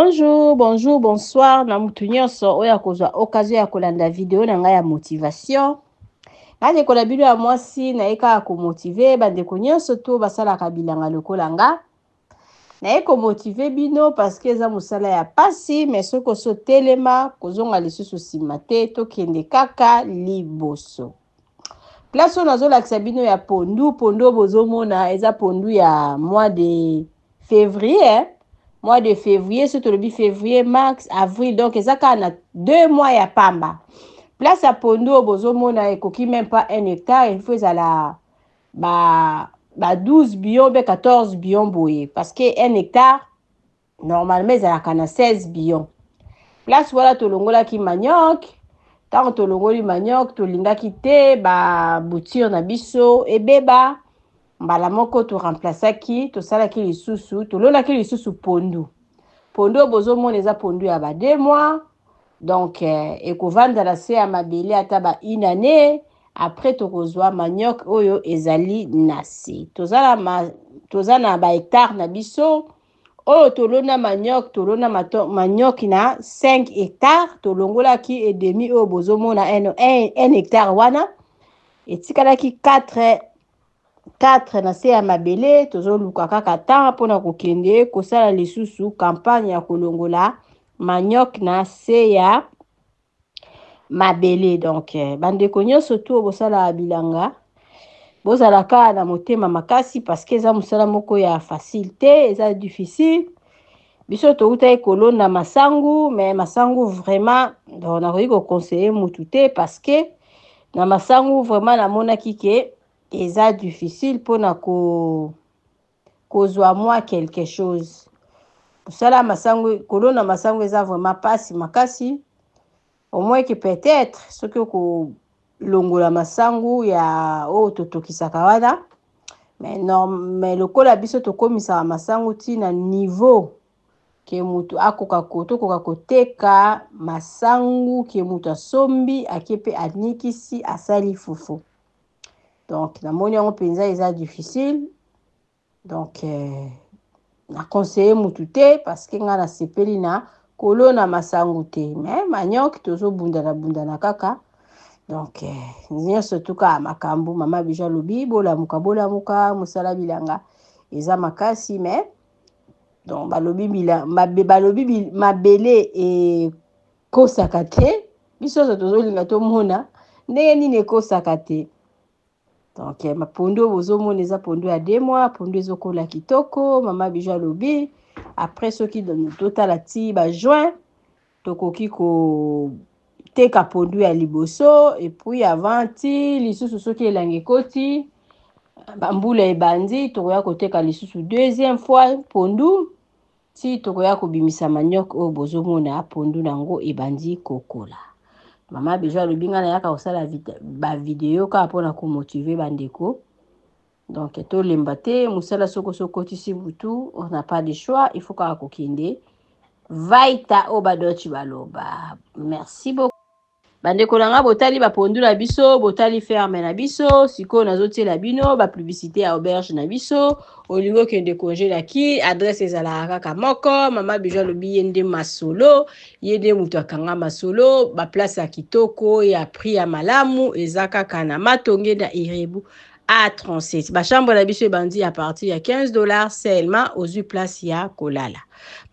Bonjour, bonjour, bonsoir na mutu nyonso oyo akozwa occasion ya kolanda video na ngai ya motivation. Ngai ndeko na bino ya mwasi naye kaka komotive bandeko nyonso to basalaka bilanga lokola nga. Naye komotive bino parce que eza mosala ya pasi mais soki osi otelema kozonga lisusu nsima te tokende kaka liboso. place oyo nazolakisa bino ya pondu pondu oyo bozomona eza pondu ya mois de février mois de février soki tolobi février mars avril donc eza kaka na deux mois ya pamba place ya pondu oyo bozomona ekoki meme pas un hectare il faut ezala ba, ba 12 bion mpe 14 bion boye parce que un hectare normalement ezalaka na 16 bion place wana tolongolaki manioc ntango tolongoli manioc tolingaki te baboutire na biso ebeba mbala moko toremplasaki tosalaki lisusu tolonaki lisusu pondu pondu oyo bozomona eza pondu ya ba deux mois donc eh, ekovanda na se ya mabele ata ba une année après tokozwa manioc oyo ezali na se toza na, ma, toza na bahectare na biso Oyo tolona manioc, tolona manioc na 5 hectares, tolongolaki et demi oyo bozomona 1 hectare wana, etikalaki 4 4 na se ya mabele, tozoluka kaka temps mpo na kokende kosala lisusu campagne ya kolongola manioc na se ya mabele donc eh, bandeko nyonso tu bosalaka bilanga bozala kaka na motema makasi parceke eza mosala moko ya facile te eza difficile biso toutaki kolona masangu me masangu vraiment donc nakoki koconseille mutu te parceke na masangu vraiment namonaki ke eza difficile mpona ko kozwa mwa quelque chose mosala ya masango kolona masango eza vraiment pasi makasi omoyeke peut-être soki okolongola masango ya oyo totokisaka wana mais, norm, mais lokola biso tokomisaka masango ti na niveau ke moto akoka ko tokoka koteka masangu ke moto asombi ake mpe anikisi asali fufu donc namoni yango mpenza eza difficile donc euh, na conseiller mutu te parce que ngai nasepeli na kolona masangu te mais manioc tozobundana bundana kaka donc euh, nyonso tuka makambo mama bija alobi bolamuka bolamuka mosala bilanga eza makasi mais donc balobi bila, mabe, balobi bil, mabele e, ekosaka te biso nyonso tozolinga tomona ndenge nini ekosaka te donc eh, mapondu oyo bozomona eza pondu ya de mois pondu ezokola kitoko mama bijo alobi après soki totala ti bajuin tokoki koteka pondu ya liboso epuis avant ti lisusu soki elangi ekoti bambula ebandi tokoya koteka lisusu deuxième fois pondu Ti tokoya kobimisa manioc oyo bozomona pondu na ngo ebandi kokola. Mama Bijou alobi nga nayaka kosala ba video kaka mpo na komotive bandeko. Donc tolemba te mosala soko osi okotisi butu on n'a pas de choix il faut kaka kokende. Vaita oyo badoci baloba. Merci beaucoup. Bandeko na nga botali ba pondu na biso, botali ferme na biso, sikoyo nazotiela bino ba publicité ya auberge na biso. Olingi okende congé na ki, adresse ezalaka kaka moko. Mama Bijou alobi ye nde masolo, ye nde moto akanga masolo. Ba place ya kitoko, ya prix ya malamu eza kaka na Matonge na Irebu A37. Ba chambre na biso ebandi à partir ya 15 dollars seulement, ozwi place ya kolala.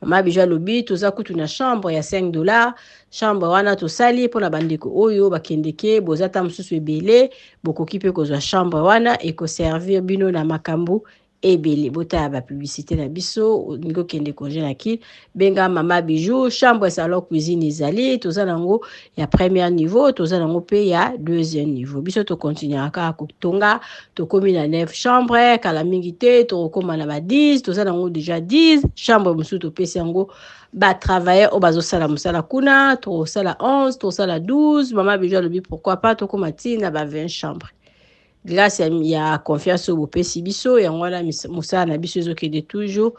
Mama Bijou alobi toza kutu na chambre ya 5 dollars. Chambre wana tosali pona bandeko oyo bakendeke boza ta mosusu ebele bokoki pe kozwa chambre wana eko servir bino na makambo ebele botala ba publicité na biso olingi okende congé na kin benga mama bijou chambre salon cuisine ezali toza nango ya premier niveau toza nango pe ya deuxième niveau biso tocontinuaka kaka kotonga tokomi na 9 chambre kala mingi te tokokoma na ba 10 toza nango deja 10 chambre mosusu topesi yango ba travailleurs oyo bazosala mosala kuna tokosala 11 tokosala 12 mama bijo alobi pourquoi pas tokóma ti na ba 20 chambre grâce ya, ya confiance oyo bopesi biso yango wana mosala na biso ezokende toujours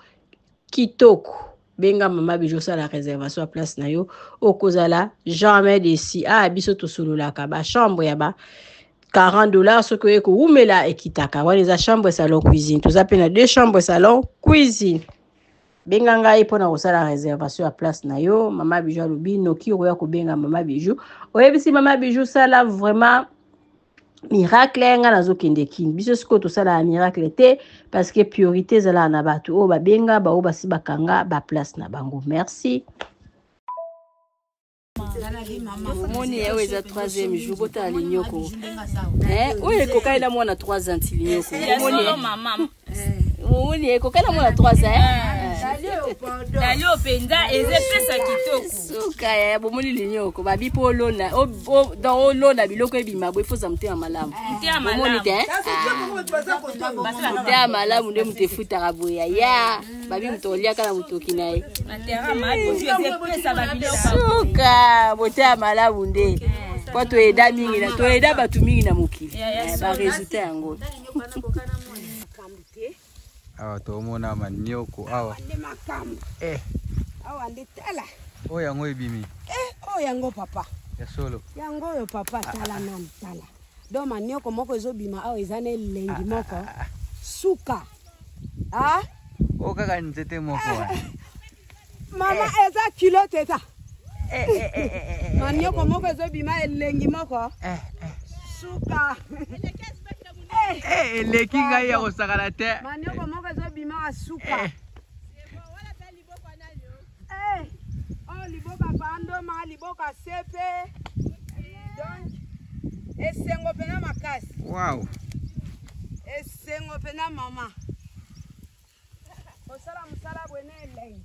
kitoko benga mama bijo osala réservation ya place na yo okozala jamais desi a ah, biso tosololaka bachambre ya ba 40 dollars soki oye kowumela ekitaka wana eza chambre salon cuisine toza mpe na deux chambre salon cuisine benga ngai mpo na kosala reservation ya place na yo mama bijou alobi noki okoya kobenga mama bijou oyebisi mama bijou sala vraiment miracle ngai nazokende kin biso sikoyo tosalaka miracle te parce que priorité ezalaka na bato oyo babenga baoyo basi bakanga baplace na bango merci omoni yawe eza troisième jour botala linyoko oyo ekokani na mwana 3 ans linyoko omoni ekokani na mwana 3 ans dalio mpenza eza epesa kitoko suka ya bomoni linyoko babi mpo olona don olona biloko ebima bo efoza motema malamu omoni te motema malamu nde moto efutaka boya ya babi moto oliaka na motoki na ye suka boteya malamu nde mpo toyeda mingi na toyeda bato mingi na mokili eh, baresultat yango awa tomona manioko awa eh. awa nde tala oyo yango ebimi eh, oyo yango papa ya solo yango oyo papa ah, tala ah, ah. nanu tala do manioko moko ezobima awa eza na elengi moko suka ah o kaka nzete moko wa eh. mama eh. eza kilote eza eh, manioko moko ezobima elengi moko suka eleki ngai ya kosakana te manioko moko ezobima suka Eh, oh liboka pandoma liboka sepe donc esengo mpena makasi wow. esengo mpena mama kosala mosala bwene elei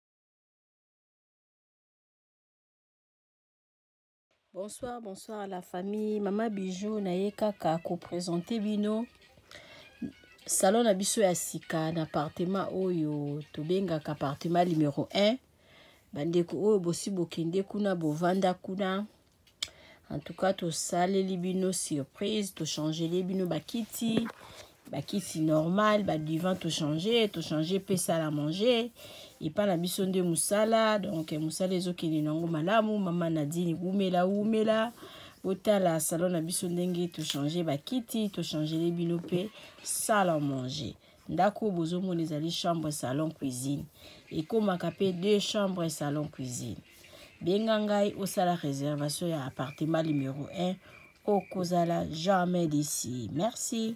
Bonsoir, bonsoir la famille. Mama Bijou na ye kaka ko présenter bino salon na biso ya sika na appartement oyo tobengaka appartement numéro 1. Bandeko oyo bosi bokende kuna bovanda kuna en tout cas tosaleli bino surprise tochangeli bino bakiti bakiti normal badivant tochange tochange mpe sala manger epai na biso nde mosala donk mosala ezokende nango malamu mama nadine wumela wumela botala salon na biso ndenge tochange bakiti tochangele bino mpe sala manger ndako oyo bozomona ezali chambre salon cuisine ekomaka mpe deux chambre salon cuisine benga ngai osala réservation ya appartement numéro 1 okozala jamais d'ici merci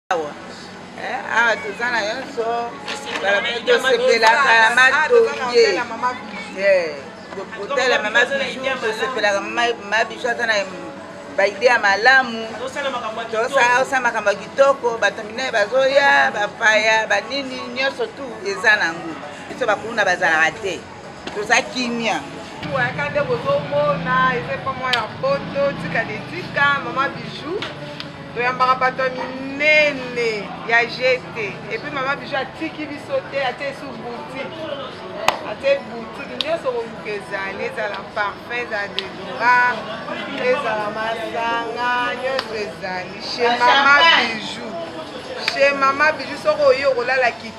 awa eh, awa toza na nyonso tosepelaka na matonge kotala mama bijou tosepelaka mama bijou aza na baide ya malamu tosala makambo ya kitoko bato minene bazoya bapaya banini nyonso tu eza nango biso bakulu na bazalaka te toza kimia oyaka nde bozomona eza epa mwa ya poto tika de tika mama bijou toyambaka bato ya minene ya jete epuis mama bijou atiki biso te atie su boutique atie boutique nyonso koluka ezali ezala parfum ezala dedora ezala masanga nyonso ezali chez mama bijou chez mama bijou soki oye okolala kiti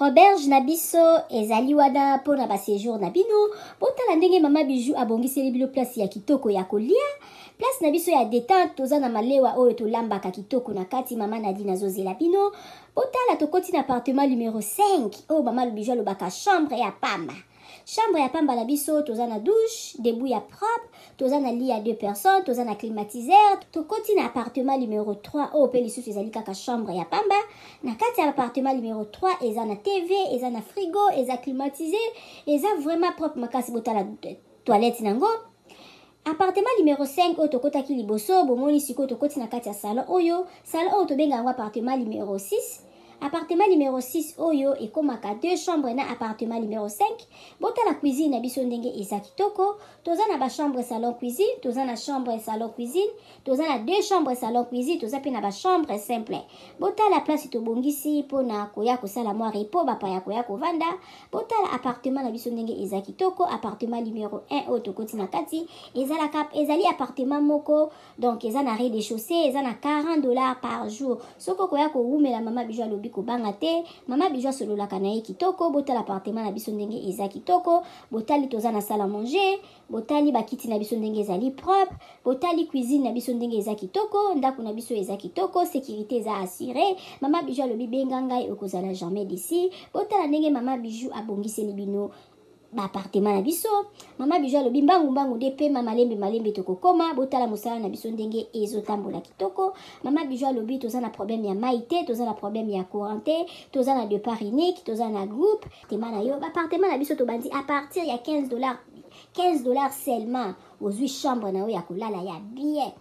Auberge na biso ezali wana mpo na basejour na bino. Botala ndenge mama Bijou abongiseli bino place ya kitoko ya kolia. Place na biso ya detente, toza na malewa oyo tolambaka kitoko na kati. Mama Nadine azozela bino. Botala tokoti na appartement numero 5 oyo mama Bijou alobaka chambre ya pamba. Chambre ya pamba na biso toza na douche, debout ya propre, toza na lit ya deux personnes, toza na climatiseur, tokoti na appartement numero 3 oyo mpe lisusu ezali kaka chambre ya pamba. Na kati ya appartement numero 3 eza na TV, eza na frigo, eza climatisé, eza vraiment propre makasi botala toilette nango. Appartement numero cinq oyo tokotaki liboso, bomoni sikoyo tokoti na kati ya salon oyo, salon oyo tobenga yango appartement numero six, appartement numero six oyo ekomaka deux chambres na appartement numero cinq, botala cuisine na biso ndenge eza kitoko, toza na ba chambres salon cuisine, toza na chambre salon cuisine, toza na deux chambres salon cuisine toza mpe na ba chambre simple botala place tobongisi mpo na koya kosala mwa repo bapaya koya kovanda botala appartement na biso ndenge eza kitoko appartement numero 1 oyo tokoti na kati ezalaka ezali appartement moko donc eza na rez de chaussée eza na 40 dollars par jour soki okoya kowumela mama bijo alobi kobanga te mama bijo asololaka na ye kitoko botala appartement na biso ndenge eza kitoko botali toza na sala manger botali bakiti na biso ndenge ezali propre botali cuisine na biso ndenge eza kitoko ndako na biso eza kitoko sécurité eza assure mama bijou alobi benga ngai okozala jamais d'ici botala ndenge mama bijou abongiseli bino baapartema na biso mama bijou alobi mbangu mbangu nde pema malembe malembe tokokoma botala mosala na biso ndenge ezotambola kitoko mama bijou alobi toza na problème ya mai te toza na problème ya courant te toza na depart unique toza na groupe appartement na yo ba appartement na biso tobandi à partir ya 15 dollars 15 dollars seulement ozwi chambre na yo ya kolala ya bien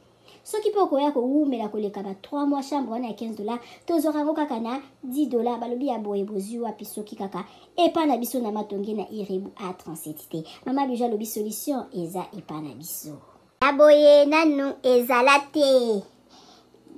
soki mpe okoya kowumela koleka ba 3 mois chambre wana ya 15 dollars tozwaka yango kaka na 10 dollars balobi ya boye bozwi wapi soki kaka epa na biso na matonge na irebu a 37 te mama bijo alobi solution eza epa na biso ya boye nanu ezala te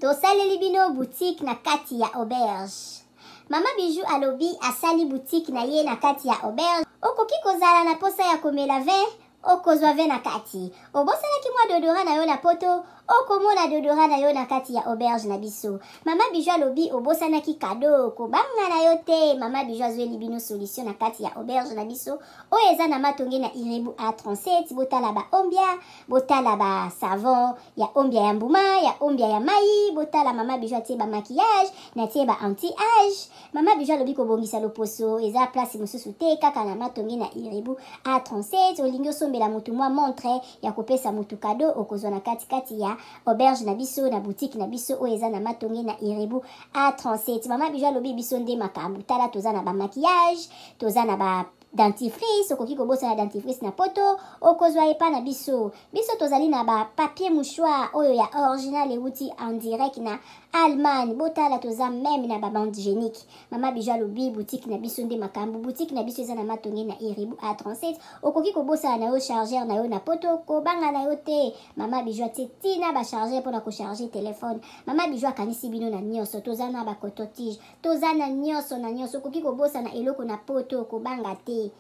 tosaleli bino boutique na kati ya auberge mama bijou alobi asali boutique na ye na kati ya auberge okoki kozala na posa ya komela vin okozwa vin na kati obosanaki mwa dodora na yo na poto okomona dodora na yo na kati ya auberge na biso mama bijou alobi obosanaki kado kobanga na yo te mama bijou azweli bino solution na kati ya auberge na biso oyo eza na matonge na irebu a37 botala ba ombia botala ba savon ya ombia ya mbuma ya ombia ya mai botala mama bijo atie ba maquillage natie ba anti age mama bijo alobi kobongisa loposo eza place mosusu te kaka na matonge na irebu a37 olingi osombela motu mwa montre ya kopesa motu kado okozwa na katikati ya auberge na biso na boutique na biso oyo eza na matonge na irebu a37 mama bijo alobi biso nde makambo tala toza na ba maquillage toza na ba dentifrice okoki kobosana dentifrice na poto okozwa epa na biso biso tozali na ba papier mouchoir oyo ya original ewuti en direct na allemagne botala toza meme na babande génique mama bijo alobi boutique na biso nde makambo boutique na biso eza na matonge na iribu a 37 okoki kobosana na yo chargeur na yo na poto kobanga na yo te mama bijo atie tina bachargeur mpona kocharge telefone mama bijo akanisi bino na nyonso toza na bacototige toza na nyonso na nyonso okoki kobosana eloko na poto kobanga te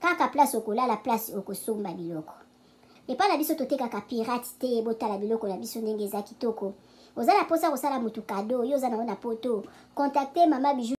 kaka place okolala place okosomba biloko epai na biso totekaka pirate te botala biloko na biso ndenge eza kitoko oza na mposa kosala motu kado yo oza nango na poto contacte mama bijou